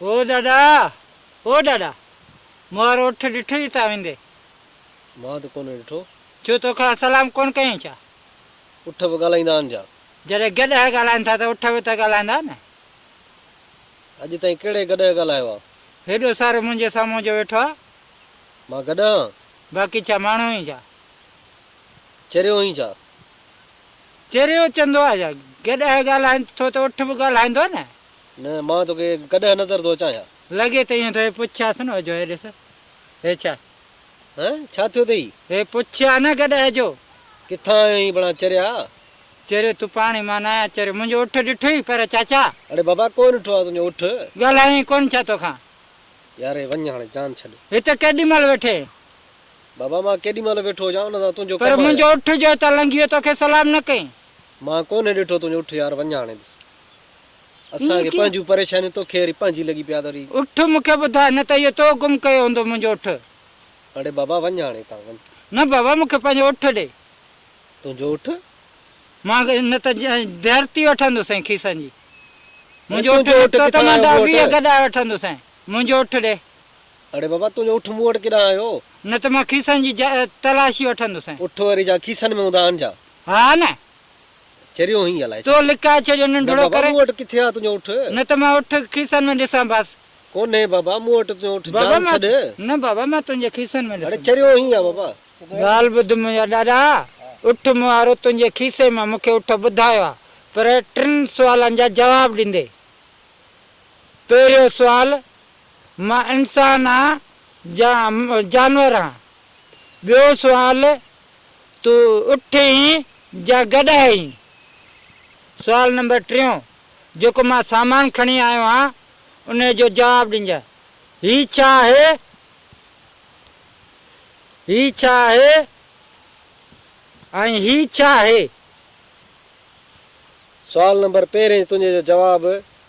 او ڏاڏا! او ڏاڏا! مون وارو اٺ ڏٺوئي تان ويندي؟ مان ته ڪونهي ڏٺو. ڇو تو کان سلام ڪونه ڪيائين ڇا؟ اٺ به ڳالهائيندا آهن ڇا؟ جڏهن گڏهه ڳالهائين ٿا ته اٺ به ته ڳالهائيندا نه. اڄ تائين ڪهڙي گڏهه ڳالهايو آ؟ هيڏو سارو منهنجي سامهون جو ويٺو آ. مان گڏهه آن؟ باقي ڇا ماڻهو هين ڇا؟ چريو هين ڇا؟ چريو چندو آ ڇا؟ گڏهه ڳالهائين ٿو ته اٺ به ڳالهائيندو نه. نه مان توکي گڏهه نظر ٿو اچان ڇا؟ لڳي ته ائين ٿو. هي پڇيانس نه جو هي ڏس هي ڇا؟ هه ڇا ٿيو اٿئي؟ هي پڇيان نه گڏهه جو. ڪٿان آيو هين ڀلا چريا؟ چريو تون پاڻ ئي مان ناهيان چريو منهنجو اٺ ڏٺوئي پر چاچا. اڙي بابا ڪونه ڏٺو آهي تنهنجو اٺ. ڳالهايو ئي ڪونه ڇا توکان. ياري وڃ هاڻي جان ڇڏ. هت ڪيڏي مهل ويٺي آهين. بابا مان ڪيڏي مهل ويٺو هجان ان سان تنهنجو ڪم آهي. پر منهنجو اٺ جو هتان لنگهي ويو توکي سلام نه ڪيئي. مان ڪونه ڏٺو تنهنجو اٺ يار وڃ هاڻي بس. اسان کي پنهنجون پريشانيون توکي وري پنهنجي لڳي پيا ته وري. اٺ مون کي ٻڌاء نه ته اهو تو گم ڪيو هوندو منهنجو اٺ. اڙي بابا وڃ هاڻي هتان وڃ. نه بابا مون کي پنهنجو اٺ ڏي. تنهنجو اٺ مان نه ته ڌرتي وٺندوسين کيسن جي. منهنجو اٺ نڪتو ته مان ڏهه ويهه گڏائي وٺندوسين. منهنجو اٺ ڏي. اڙي بابا تنهنجو اٺ مون وٽ ڪيڏانهن آيو؟ نه ته مان کيسن جي تلاشي وٺندوسين. اٺ وري جا کيسن ۾ هوندا آهن ڇا؟ ها نه. چريو هئين الائي ڇا. تو لڪائي ڇڏيو ننڍڙو ڪري. نه بابا مون وٽ ڪٿي آهي تنهنجو اٺ. نه ته مان اٺ کيسن ۾ ڏسان بس. ڪونهي بابا مون وٽ تنهنجو اٺ جان ڇڏ. نه بابا مان تنهنجي کيسن ۾ ڏسندوسين. اڙي چريو هئين ها بابا. ڳالهه ٻڌ منهنجا ڏاڏا، اٺ مهارو تنهنجي کيسي مان مون کي اٺ ٻڌايو آ، پر ٽن سوالن جا جواب ڏيندي. پهريون سوال، مان انسان آن جا جانور آن؟ ٻيو سوال، تون اٺ هين جا گڏهه هين؟ سوال نمبر ٽيون، جيڪو مان سامان کڻي آيو آن، انهي جو جواب ڏينجانء، هي ڇا آهي؟ هي ڇا آهي ۽ هي ڇا آهي؟ سوال نمبر پهرين تنهنجي جو جواب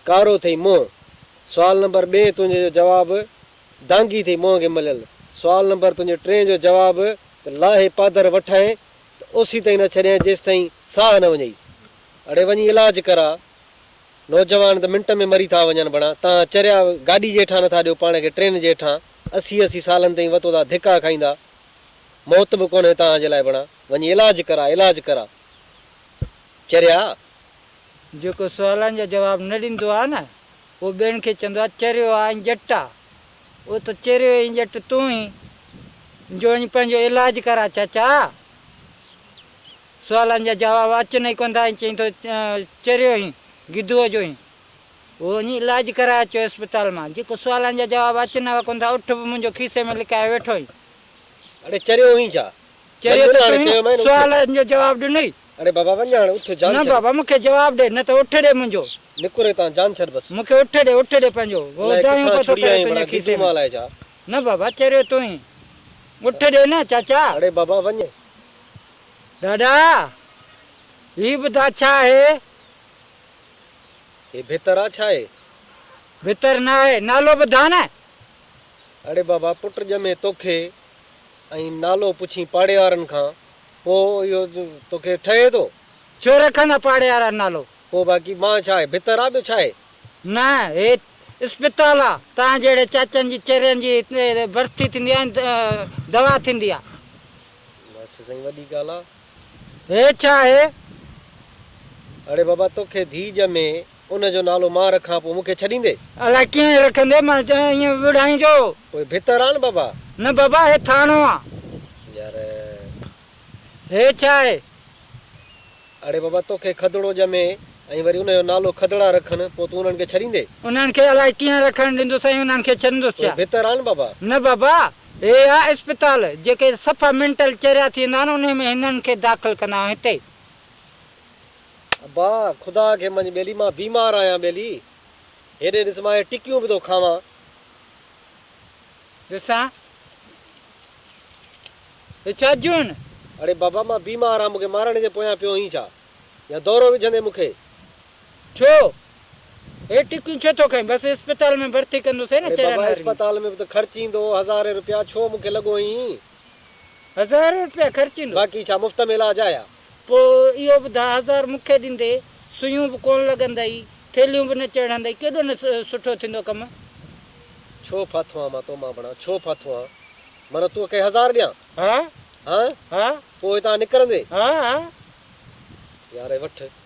ڪارو ٿئي منهن سوال نمبر ٻين تنهنجي جو جواب دانگي ٿئي منهن کي مليل سوال نمبر تنهنجي ٽين جو جواب ته لاهي پادر وٺائين ته اوسي تائين نه ڇڏيائين جيستائين ساهه نه وڃئي اڙي وڃي علاج ڪراء نوجوان ته منٽ ۾ مري ٿا وڃن بڻا تان چريا گاڏي جي هيٺان نٿا ڏيو پاڻ کي ٽرين جي هيٺان اسي اسي سالن تائين وتودا ڌڪا کائيندا موت به ڪونهي تان جي لاء بڻا وڃي علاج ڪرا علاج ڪرا چريا. جيڪو سوالن جا جواب نه ڏيندو آ نه اهو ٻين کي چوندو آ چريو آ ۽ ڄٽ آ اهو ته چريو ۽ ڄٽ تون هين جو وڃي پنهنجو علاج ڪرا چاچا سوالن جا جواب اچن ئي ڪوندا ۽ چئين ٿو چريو هين گدوء جو هين. هو وڃي علاج ڪرائي اچيو اسپتال مان، جيڪو سوالن جا جواب اچن هئا ڪونه ٿا، اٺ به منهنجو کيسي ۾ لڪائي ويٺو هئين. اڙي چريو هئين ڇا؟ چريو ته ڪونه، سوالن جو جواب ڏنئي. اڙي بابا وڃ هاڻ اٿ، جان ڇڏ. نه بابا مون کي جواب ڏي، نه ته اٺ ڏي منهنجو. نڪر هتان، جان ڇڏ بس. مون کي اٺ ڏي، اٺ ڏي پنهنجو. هو دانهيون پيو ٿو ڪري تنهنجي کيسي ۾. نه بابا چريو تون هئين. اٺ ڏي نه چاچا. اڙي بابا وڃ. ڏاڏا! هي ٻڌاء ڇا آهي؟ هي ڀتر آ ڇا اي؟ ڀتر نه آهي، نالو ٻڌاء نه. اڙي بابا پٽ ڄمي توکي ۽ نالو پڇين پاڙيوارن کان پوء اهو توکي ٺهي ٿو. ڇو رکندا پاڙيوارا نالو؟ پوء باقي مان ڇا هي ڀتر آ ٻيو ڇا هي؟ نه هي اسپتال آ، تنهن جهڙي چاچن جي چرين جي هتي ڀرتي ٿيندي ۽ دوا ٿيندي آ. بس سائين وڏي ڳالهه آ. هي ڇا آهي؟ اڙي بابا توکي ڌيء ڄمي ان جو نالو مان رکان پوء مونکي ڇڏيندي؟ الاء ڪيئن رکندي مان چيائين ائين وڙهائين جو. پوء ڀتر آن بابا. نه بابا هي ٿانو آ. يار. هي ڇا آهي؟ اڙي بابا توکي کدڙو ڄمي ۽ وري ان جو نالو کدڙا رکن پوء تون انهن کي ڇڏيندي؟ انهن کي الاء ڪيئن رکڻ ڏيندس ۽ انهن کي ڇڏندس ڇا؟ پوء ڀتر آن بابا. نه بابا هي اها اسپتال جيڪي صفا مينٽل چريا ٿيندا آهن انهي ۾ هنن کي داخل ڪندا آهيون هتي. ابا خدا کي مڃ ٻيلي مان بيمار آهيان ٻيلي هيڏي ڏس مان اهي ٽڪيون به ٿو کاوان. ڏسان هي ڇا جون آهن. اڙي بابا مان بيمار آهيان مون کي مارڻ جي پويان پيو هئين ڇا يا دورو وجهندين مون کي. ڇو؟ هي ٽڪيون ڇو ٿو کائين؟ بس اسپتال ۾ ڀرتي ڪندوسين ن چريا نارينگي. اري بابا اسپتال ۾ به ته خرچ ايندو هزارين روپيا ڇو مون کي لڳو ائين. هزار روپيا خرچ ايندو؟ باقي ڇا مفت ۾ علاج آهي ها. پوء اهو ٻڌاء هزار مون کي ڏيندي سوئيون به ڪونه لڳندئي ٿيلهيون به نه چڙهندئي ڪيڏو نه سٺو ٿيندو ڪم. ڇو ڦاٿو آن مان تو مان بڻان ڇو ڦاٿو آن معنيٰ تو کي هزار ڏيان ها هان ها پوء هتان نڪرندي ها ها. يار هي وٺ.